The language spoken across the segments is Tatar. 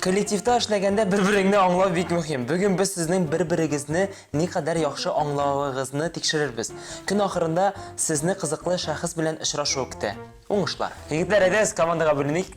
Коллективта эшләгәндә бер-береңне аңлау бик мөһим. Бүген без сезнең бер-берегезне никадәр яхшы аңлавыгызны тикшерербез. Көн ахырында сезне кызыклы шәхес белән очрашу көтә. Уңышлар! Егетләр, әйдәгез командага бүленик.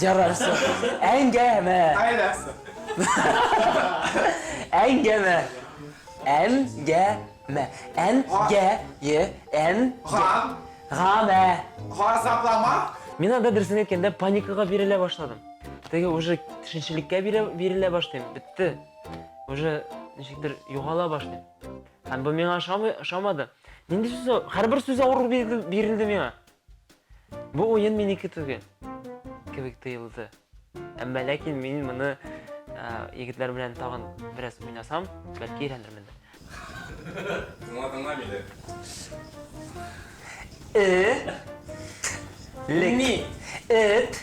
Ярарсы. Әңгәмә. Айласы. Әңгәмә. Әңгәмә. Әңгә. Е. Әң. Гам. Гамә. Газаплама. Мин анда дөресен әйткәндә паникага бирелә башладым. Теге уже төшенчелеккә бирелә башлыйм. Бетте. Уже ничектер югала башлыйм. Һәм бу миңа ошамады. Нинди сүз? Һәрбер сүз авыр бирелде миңа. Бу уен минеке түгел кебек тоелды. Әмма ләкин мин моны егетләр белән тагын бераз уйнасам, бәлки өйрәнермен. Моңа тыңлам иде. Э. Лек. Ни? Эт.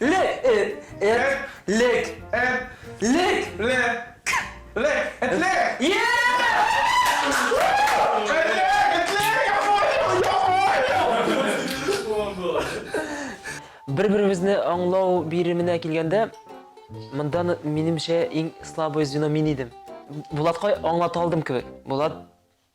Ле, эт, эт, лек, эт, лек, ле, к, лек, эт, лек! Бер-беребезне аңлау биременә килгәндә, монда, минемчә, иң слабое звено мин идем. Булатка аңлата алдым кебек. Булат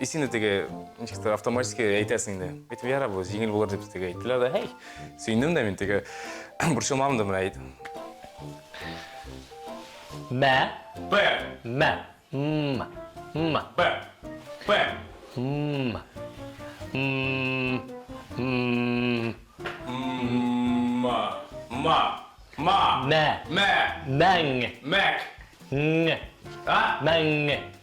И син дә теге, ничектер, автоматически әйтәсең дә. Әйтеп, яра бу, җиңел булыр дип теге әйттеләр дә, һәй, сөендем дә мин теге, борчылмадым да менә әйт. Мә. Б. Мә. М. М. Б. Б. М. М. М. Ма. Ма. Ма. Мә. Мә. Мәң. Мәк. Ң. А? Мәң.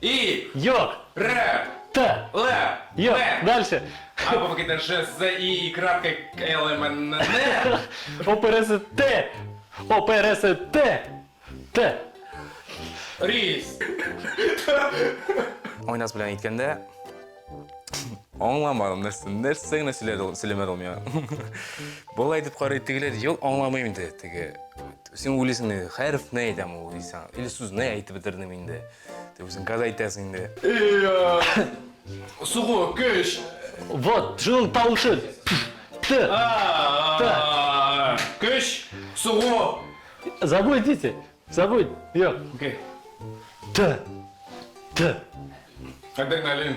И. Йок. Ре. Т. Ле. Йок. Ме. Дальше. А, бо какие-то Ж, З, И, И, крапка, Л, М, Н, Н. О, П, Р, С, Т. О, П, Р, С, Т. Т. Рис. Ойнас белән әйткәндә, аңламадым нәрсә, нәрсә генә сөйләде ул, сөйләмәде ул миңа. Болай итеп карый, тегеләр, юк, аңламыйм инде, теге. Син уйлыйсың, хәреф не әйтәм ул, дисәң, или сүз не әйтеп бетердем инде. Ты үзең каз әйтәсең инде. Сугу, көч. Вот, шуның тавышы. Т. Көч, сугу. Забудь, дети. Забудь. Йо. Окей. Т. Т. Адреналин.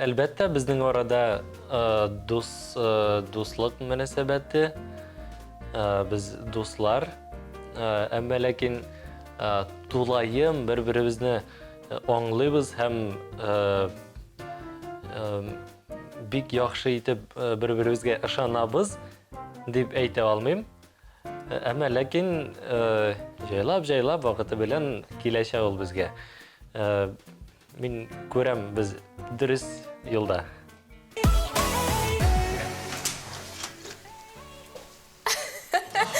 Әлбәттә, безнең арада дус, дуслык мөнәсәбәте, без дуслар, әмма ләкин тулаем бер-беребезне аңлыйбыз һәм бик яхшы итеп бер-беребезгә ышанабыз дип әйтә алмыйм. Әмма ләкин җайлап-җайлап вакыты белән киләчәк ул безгә. Мин күрәм, без дөрес юлда.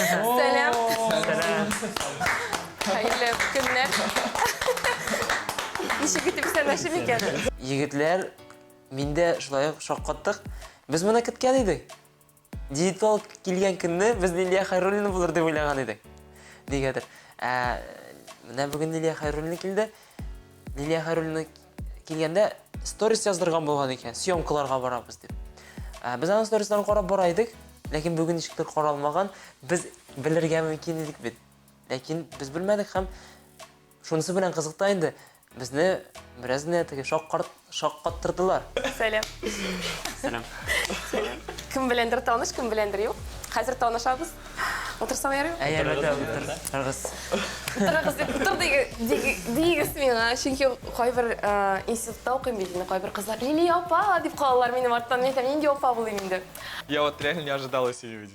Сәлам. Сәлам. Хәерле көннәр. Ничек итеп исәнләшим икән? Егетләр, миндә шулай ук шаккаттык. Без моны көткән идек. Диетолог килгән көнне без Лилия Хайруллина булыр дип уйлаган идек. Нигәдер. Ә менә бүген Лилия Хайруллина килде. Лилия Хайруллина килгәндә сторис яздырган булган икән, съемкаларга барабыз дип. Ә без аның сторисларын карап бара идек, ләкин бүген ничектер каралмаган. Без белергә мөмкин идек бит. Ләкин без белмәдек һәм Шунысы белән кызык та инде, безне бераз генә теге шаккарт, шаккаттырдылар. Сәлам. Сәлам. Сәлам. Кем беләндер таныш, кем беләндер юк. Хәзер танышабыз. Утырсам ярый? Әй, әлбәттә, утырыгыз. Утырыгыз дип, утыр дигез миңа, чөнки кайбер институтта укыйм бит инде, кайбер кызлар, Лилия апа, дип калалар минем арттан, мин әйтәм, нинди апа булыйм инде. Я вот реально не ожидал, если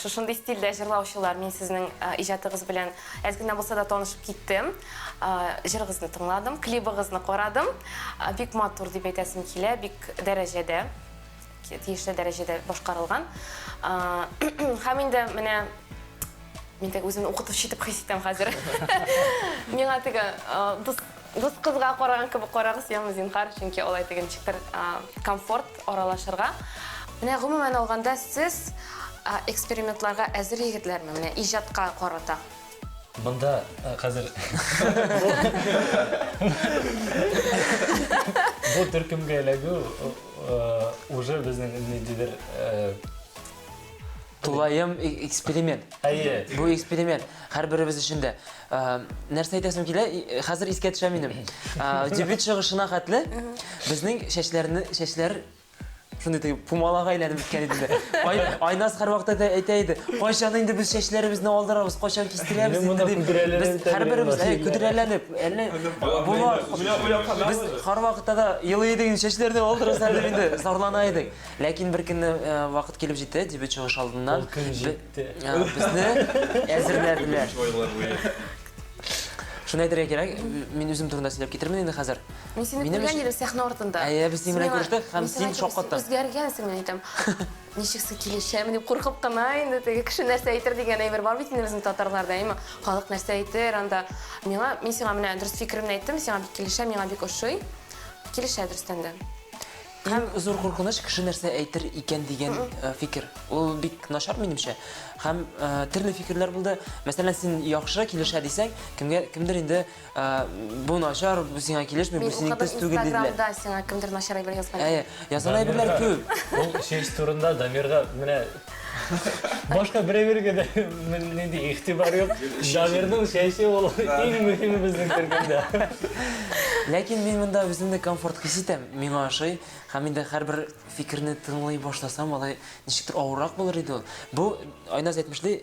Шушындый стильдә җырлаучылар, мин сезнең иҗатыгыз белән әз генә булса да танышып киттем. Җырыгызны тыңладым, клибыгызны карадым. Бик матур дип әйтәсем килә, бик дәрәҗәдә, тиешле дәрәҗәдә башкарылган. Һәм инде менә мин теге үземне укытучы итеп хис итәм хәзер. Миңа теге дус Дус кызга караган кебек карагыз яме, зинһар, чөнки алай түгел, ничектер комфорт аралашырга. Менә гомумән алганда сез экспериментларга әзер егетләрме, менә иҗатка карата? Монда хәзер бу төркемгә эләгү уже безнең ниндидер Тулаем э, эксперимент. Әйе. Бу эксперимент һәрберебез өчен дә. Э, нәрсә әйтәсем килә? Э, хәзер искә төшә минем. Дебют чыгышына хәтле безнең чәчләрне чәчләр шундый теге пумалага әйләнеп беткән иде дә. Ай, Айназ һәрвакытта да әйтә иде, кайчан инде без чәчләребезне алдырабыз, кайчан кистерәбез Минем монда инде дип. Без һәрберебез әй, көдрәләнеп, әллә була. Без һәрвакытта да елый идек, чәчләрне алдырасыз әле инде, зарлана идек. Ләкин бер көнне вакыт килеп җитте, дебют чыгыш алдыннан. Ул көн җитте. Безне әзерләделәр. Шуны әйтергә кирәк, мин үзем турында сөйләп китермен инде хәзер. Мин сине күргән идем сәхнә артында. Әйе, без синең белән күрештек һәм син шаккаттың. Үзгәргәнсең, мин әйтәм. Ничек сез килешәме дип куркып кына инде теге кеше нәрсә әйтер дигән әйбер бар бит инде безнең татарларда, әйме? Халык нәрсә әйтер анда? Миңа, мин сиңа менә дөрес фикеремне әйттем, сиңа бик килешә, миңа бик ошый. Килешә дөрестән дә. Иң зур куркыныч кеше нәрсә әйтер икән дигән фикер. Ул бик начар минемчә. Һәм төрле фикерләр булды. Мәсәлән, син яхшы килешә дисәң, кемгә кемдер инде бу начар, бу сиңа килешми, бу синең төс түгел диделәр. Инстаграмда сиңа кемдер начар әйбер язган. Әйе, язган әйберләр күп. Ул честь турында Дамирга менә Башка берәүгә дә нинди игътибар юк. Дамирның чәче ул иң мөһиме безнең төркемдә. Ләкин мин монда үземне комфорт хис итәм, миңа ошый. Һәм инде һәрбер фикерне тыңлый башласам, алай ничектер авыррак булыр иде ул. Бу Айназ әйтмешли,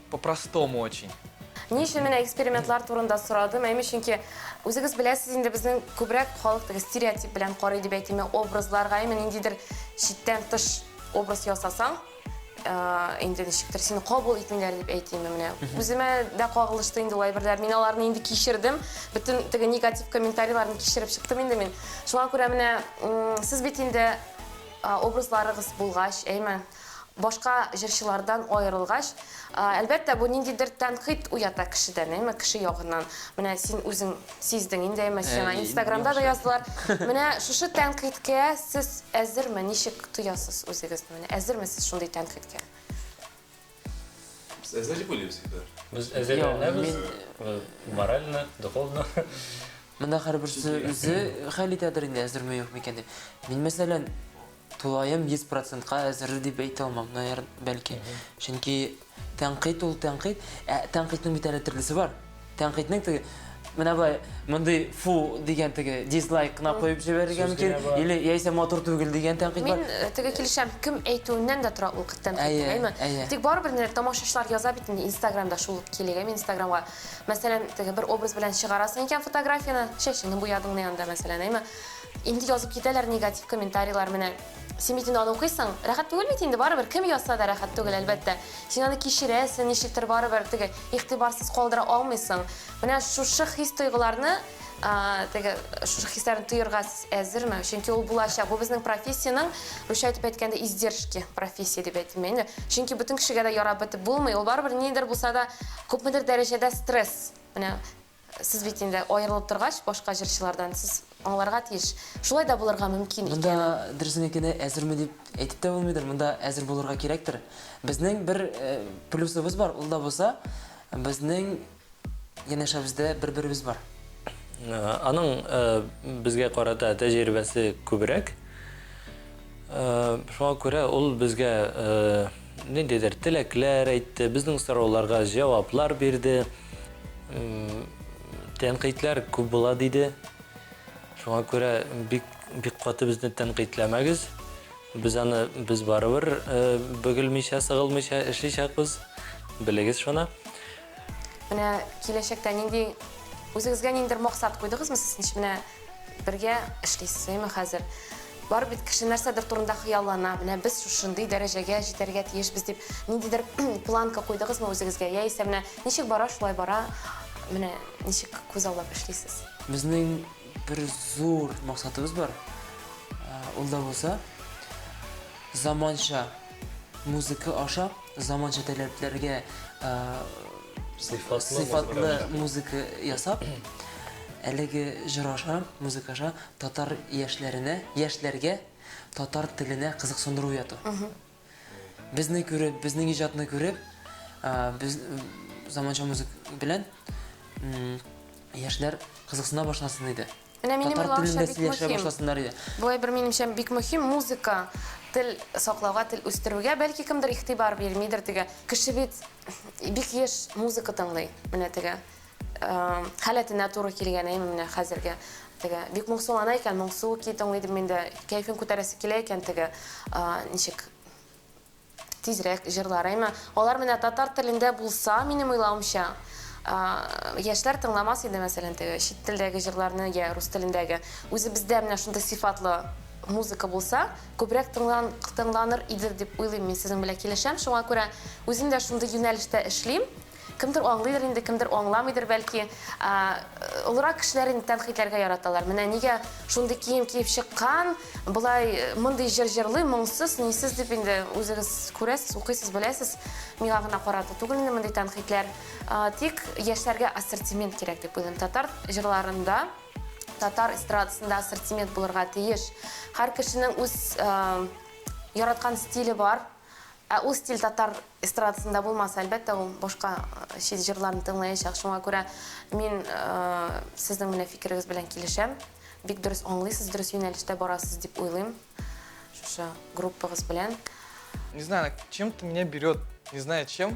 По-простому очень. Ни өчен менә экспериментлар турында сорадым? Әйме, чөнки үзегез беләсез инде безнең күбрәк халык теге стереотип белән карый дип әйтимме, образларга, әйме ниндидер читтән тыш образ ясасаң, э, инде ничектер сине кабул итмиләр дип әйтимме менә. Үземә дә кагылышты инде ул әйберләр. Мин аларны инде кичердем. Бөтен теге негатив комментарийларны кичереп чыктым инде мин. Шуңа күрә менә м, сез бит инде э, образларыгыз булгач, әйме, башка җырчылардан аерылгач, әлбәттә, бу ниндидер тәнкыйть уята кешедән, әйме, кеше ягыннан. Менә син үзең сиздең инде, әйме, сиңа Инстаграмда да яздылар. Менә шушы тәнкыйтькә сез әзерме, ничек тоясыз үзегезне? Менә әзерме сез шундый тәнкыйтькә? Без әзер дип уйлыйбыз инде. Без әзерләнәбез, морально, духовно. Монда һәрберсе үзе хәл итәдер инде, әзерме, юкмы икән дип. Мин, мәсәлән, Тулаем 100 процентка әзер дип әйтә алмам, наер, бәлки. Чөнки тәнкыйть ул тәнкыйть. Ә тәнкыйтьнең бит әле төрлесе бар. Тәнкыйтьнең теге менә бай мондый фу дигән теге дизлайк кына куеп җибәрергә мөмкин или яисә матур түгел дигән тәнкыйть бар. Мин э, теге килешәм, кем әйтүеннән дә тора ул тәнкыйть, әйме? Тик барыбер нәр тамашачылар яза бит инде Инстаграмда шул ук килегә, мин Инстаграмга. Мәсәлән, теге бер образ белән чыгарасың икән фотографияне, чәчеңне буядыңны янда мәсәлән, әйме? Инде язып китәләр негатив комментарийлар менә. Син бит инде аны укыйсың, рәхәт түгел бит инде, барыбер кем язса да рәхәт түгел, әлбәттә. Син аны кичерәсең, ничектер барыбер теге игътибарсыз калдыра алмыйсың. Менә шушы хис-тойгыларны, теге шушы хисләрне тоерга сез әзерме? Чөнки ул булачак. Бу безнең профессиянең, русча итеп әйткәндә, издержки профессия дип әйтим инде. Чөнки бөтен кешегә дә ярап бетеп булмый, ул барыбер ниндидер булса да, күпмедер дәрәҗәдә стресс. Менә Сез бит инде аерылып торгач, башка җырчылардан сез аңларга тиеш. Шулай да булырга мөмкин икән. Монда дөресен әйткәндә, әзерме дип әйтеп тә булмыйдыр, монда әзер булырга кирәктер. Безнең бер плюсыбыз бар, ул да булса, безнең янәшәбездә бер-беребез бар. Аның безгә карата тәҗрибәсе күбрәк. Шуңа күрә ул безгә Ниндидер теләкләр әйтте, безнең сорауларга җаваплар бирде. Тәнкыйтьләр күп була диде. Шуңа күрә бик бик каты безне тәнкыйтьләмәгез. Без аны без барыбер э, бөгелмичә, сыгылмыйча эшличәкбез. Белегез шуны. Менә киләчәктә нинди үзегезгә ниндер максат куйдыгызмы сез ничек менә бергә эшлисез әйме хәзер бар бит кеше нәрсәдер турында хыяллана менә без шушындый дәрәҗәгә җитәргә тиешбез дип ниндидер планка куйдыгызмы үзегезгә яисә менә ничек бара шулай бара менә ничек күз аллап эшлисез безнең бер зур максатыбыз бар ул да булса заманча музыка аша Заманча таләпләргә сыйфатлы музыка ясап, әлеге җыр аша, музыка аша татар яшьләренә, яшьләргә татар теленә кызыксындыру яту. Безне күреп, безнең иҗатны күреп, без заманча музыка белән яшьләр кызыксына башласын иде. Менә минем Татар уйлавымча телендә бик сөйләшә мөһим. башласыннар иде. Болай бер минемчә бик мөһим музыка, тел саклауга, тел үстерүгә. Бәлки кемдер игътибар бирмидер теге. Кеше бит бик еш музыка тыңлый. Менә теге эм, халәтенә туры килгән әйме менә хәзерге теге. Бик моңсулана икән, моңсу ки тыңлый идем мин дә. Кәефен күтәрәсе килә икән теге. а, Ничек? Тизрәк җырлар, әйме? Алар менә татар телендә булса, минем уйлавымча, яшьләр тыңламас иде, мәсәлән, теге чит телдәге җырларны, я рус телендәге. Үзебездә менә шундый сыйфатлы музыка булса, күбрәк тыңлан, тыңланыр иде дип уйлыйм мин, сезнең белән килешәм. Шуңа күрә үзем дә шундый юнәлештә эшлим. Кемдер аңлыйдыр инде, кемдер аңламыйдыр, бәлки. Ә, олырак кешеләр инде тәнкыйтьләргә яраталар. Менә нигә шундый кием киеп чыккан, болай э, мондый җыр җырлый, моңсыз, нисез дип инде үзегез күрәсез, укыйсыз, беләсез. Миңа гына карата түгел инде мондый тәнкыйтьләр. Ә, тик яшьләргә ассортимент кирәк дип уйлыйм. Татар җырларында татар эстрадасында ассортимент булырга тиеш. Һәр кешенең үз э, яраткан стиле бар. Ә ул стиль татар эстрадасында булмаса, әлбәттә, ул башка чит җырларны тыңлаячак. Шуңа күрә мин сезнең менә фикерегез белән килешәм. Бик дөрес аңлыйсыз, дөрес юнәлештә барасыз дип уйлыйм шушы группагыз белән. Не знаю, чем-то меня берет, не знаю чем.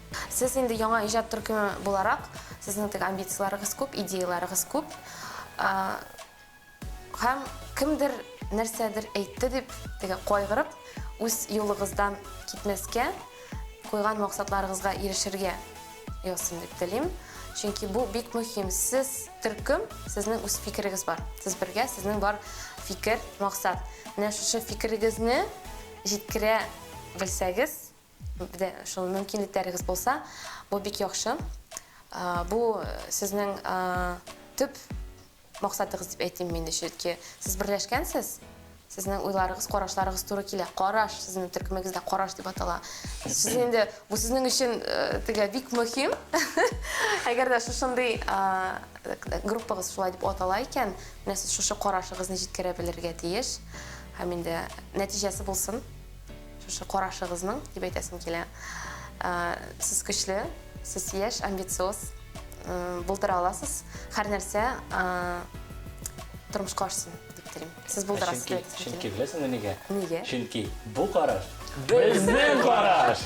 Сез инде яңа иҗат төркеме буларак, сезнең теге амбицияләрегез күп, идеяләрегез күп. Һәм кемдер нәрсәдер әйтте дип, теге кайгырып, үз юлыгыздан китмәскә, куйган максатларыгызга ирешергә язсын дип телим. Чөнки бу бик мөһим. Сез төркем, сезнең үз фикерегез бар. Сез бергә, сезнең бар фикер, максат. Менә шушы фикерегезне җиткерә белсәгез, Бе, шул мөмкинлекләрегез булса, бу бик яхшы. Бу сезнең төп максатыгыз дип әйтим мин, чөнки сез берләшкәнсез. Сезнең уйларыгыз, карашларыгыз туры килә. Караш, сезнең төркемегездә караш дип атала. Сез инде бу сезнең өчен тегә бик мөһим. Әгәр дә шушындый группагыз шулай дип атала икән, менә сез шушы карашыгызны җиткерә белергә тиеш. Һәм инде нәтиҗәсе булсын. Шушы карашыгызның дип әйтәсем килә. Ә, сез көчле, сез яшь, амбициоз ә, булдыра аласыз. Һәр нәрсә ә, тормышка ашсын дип телим. Сез булдырасыз дип әйтәсем килә. Чөнки беләсеңме нигә? Нигә? Чөнки бу караш безнең караш!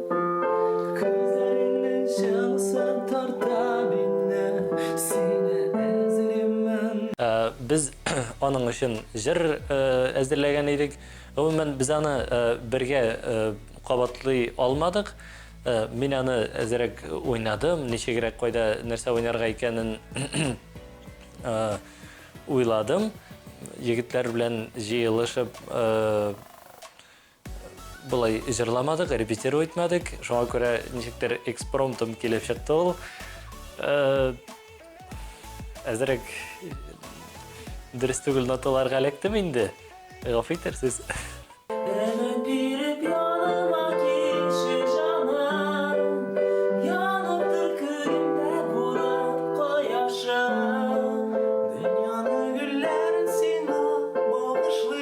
Без аның өчен җыр әзерләгән идек. Гомумән, без аны бергә кабатлый алмадык. Мин аны әзрәк уйнадым, ничегрәк, кайда, нәрсә уйнарга икәнен уйладым. Егетләр белән җыелышып, Болай җырламадык, репетиру итмәдек. Шуңа күрә ничектер экспромтом килеп чыкты ул. Әзерәк дөрес түгел ноталарга эләктем инде. Гафу итәрсез.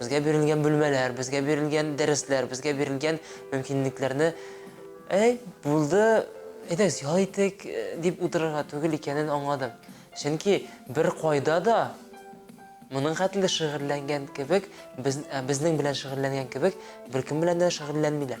Безгә бирелгән бүлмәләр, безгә бирелгән дәресләр, безгә бирелгән мөмкинлекләрне, әй, булды, әйдәгез, ял итик, дип утырырга түгел икәнен аңладым. Чөнки беркайда да моның хәтле шөгыльләнгән кебек, без, безнең белән шөгыльләнгән кебек, беркем белән дә шөгыльләнмиләр.